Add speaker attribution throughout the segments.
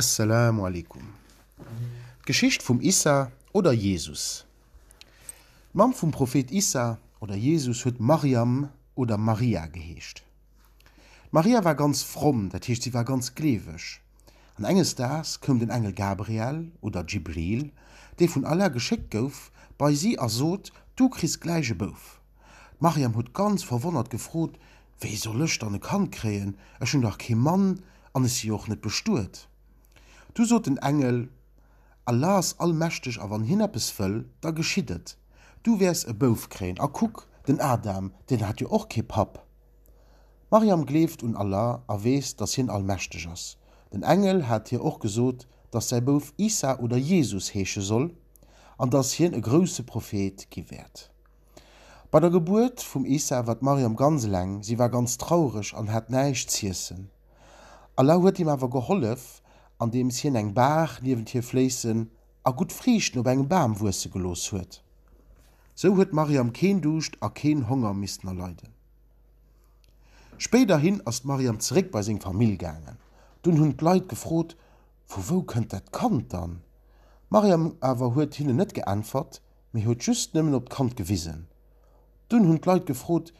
Speaker 1: Esselamu Alaikum. D'Geschicht vum Issa oder Jesus. D'Mamm vum Prophet Issa oder Jesus huet Mariam oder Maria geheescht. D'Maria war ganz fromm, dat heescht si war ganz gleeweg. An enges Daags koum den Engel Gabriel oder Djibril, dee vun Allah geschéckt gouf, bei si a sot, Du kriss gläich e Bouf. D'Maryam huet ganz verwonnert gefrot, Wéi soll ech dann e Kand kréien? Ech hunn dach kee Mann an ech si jo och net bestuet. Du sot den Engel, Allah ass allmächteg a wann Hien eppes wëll, da geschitt et. Du wäers e Bouf kréien. A kuck, den Adam, deen hat jo och kee Papp. D'Maryam gleeft un Allah a weess, dass Hien allmächteg ass. Den Engel hat hir och gesot, dass säi Bouf Isa oder Jesus heesche soll an dass hien e grousse Prophet gi wäert. Bei der Gebuert vum Issa war d'Maryam ganz eleng, si war ganz traureg an hat näischt z'iessen. Allah huet him awer gehollef, andeems Hien eng Baach niewent hir fléissen a gutt Friichten op engem Bam wuesse gelooss huet. Sou huet d'Maryam keen Duuscht a keen Honger missten erleiden. Spéiderhin ass d'Maryam zeréck bei seng Famill gaangen. Dunn hunn d'Leit gefrot, Vu wou kënnt dat Kand dann? D'Maryam awer huet hinnen net geäntwert, mee huet just nëmmen op d'Kand gewisen. Dunn hunn d'Leit gefrot,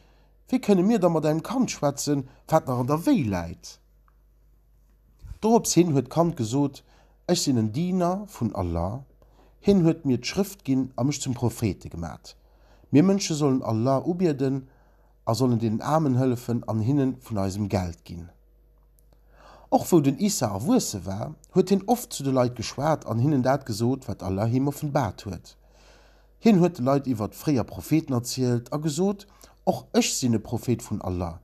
Speaker 1: Wéi kënne mir da mat engem Kand schwätzen, wat nach an der Wéi läit? Dorops hin huet d'Kand gesot, Ech sinn en Diener vun Allah, Hien huet mir d'Schrëft ginn a mech zum Prophete gemat. Mir Mënsche sollen Allah ubieden a sollen deenen Aarmen hëllefen an hinne vun eisem Geld ginn. Och wou den Issa erwuesse war, huet hien oft zu de Leit geschwat an hinnen dat gesot, wat Allah him offenbaart huet. Hien huet de Leit iwwert fréier Propheten erzielt a gesot, Och ech sinn e Prophet vun Allah.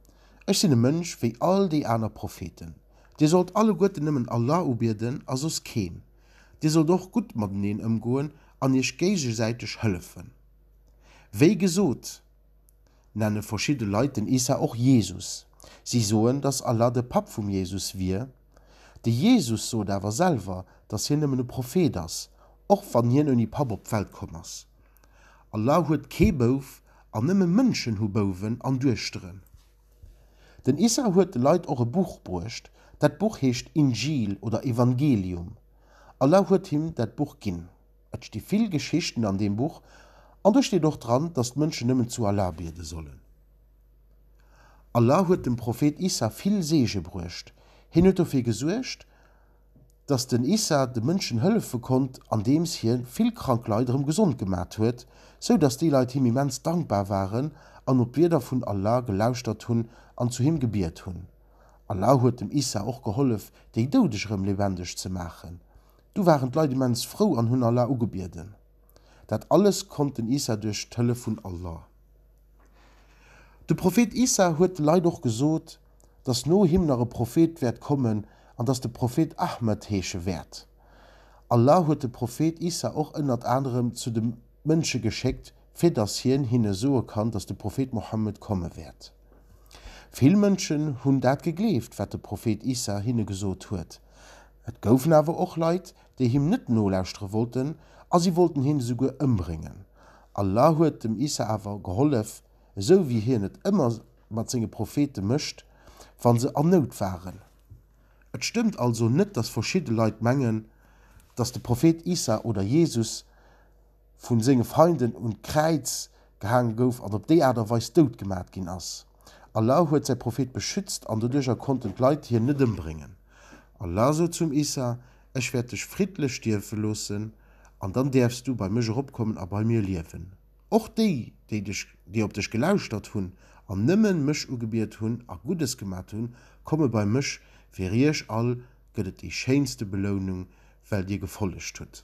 Speaker 1: Ech sinn e Mënsch wéi all déi aner Propheten. Dir sollt alleguerten nëmmen Allah ubieden a soss keen. Dir sollt och gutt mateneen ëmgoen an iech géigesäiteg hëllefen. Wéi gesot. Nenne verschidde Leit den Issa och Jesus. Si soen, datt Allah de Papp vum Jesus wier. De Jesus sot awer selwer, datt hien nëmmen e Prophet ass, och wann hien ouni Papp op d'Welt komm ass. Allah huet kee Bouf an nëmme Mënschen hu Bouwen an Duechteren. Den Issa huet de Leit och e Buch bruecht. Dat Buch heescht Injil oder Evangelium. Allah huet him dat Buch ginn. Et sti vill Geschichten an deem Buch an do steet och dran, datt d'Mënschen nëmmen zu Allah biede sollen. Allah huet dem Prophet Issa vill Seege bruecht. Hien huet dofir gesuergt, datt den Issa de Mënschen hëllefe konnt, andeems hie vill krank Leit erëm gesond gemat huet, sou datt déi Leit him immens dankbar waren an op d'Wierder vun Allah gelauschtert hunn an zu him gebiet hunn. Allah huet dem Issa och gehollef, déi Doudeg erëm lebendeg ze maachen. Du waren d'Leit immens frou an hunn Allah ugebieden. Dat alles konnt den Isa duerch d'Hëllef vun Allah. De Prophet Isa huet de Leit och gesot, dass no him nach e Prophet wäert kommen an dass de Prophet Ahmed heesche wäert. Allah huet de Prophet Isa och ënnert anerem zu de Mënsche geschéckt, fir dass hien hinne soe kann, dass de Prophet Mohammed komme wäert. Vill Mënschen hunn dat gegleeft, wat de Prophet Isa hinne gesot huet. Et goufen awer och Leit, déi him net nolauschtere wollten a si wollten him esouguer ëmbréngen. Allah huet dem Isa awer gehollef, esou wéi Hien et ëmmer mat senge Prophete mécht, wa se an Nout waren. Et stëmmt also net, dass verschidde Leit mengen, dass de Prophet Isa oder Jesus, vun senge Feinden un d'Kräiz gehaange gouf an op déi Aart a Weis dout gemat ginn ass. Allah huet säi Prophet beschützt an doduercher konnten d'Leit hien net ëmbréngen. Allah sot zum Isa, Ech wäert dech friddlech stierwe loossen an dann däerfs du bei mech eropkommen a bei mir liewen. Och déi, déi dech, déi op dech gelauschtert hunn an nëmme mech ugebiet hunn a Guddes gemat hunn, komme bei mech, fir iech all gëtt et déi schéinste Belounung, well dir gefollegt hutt.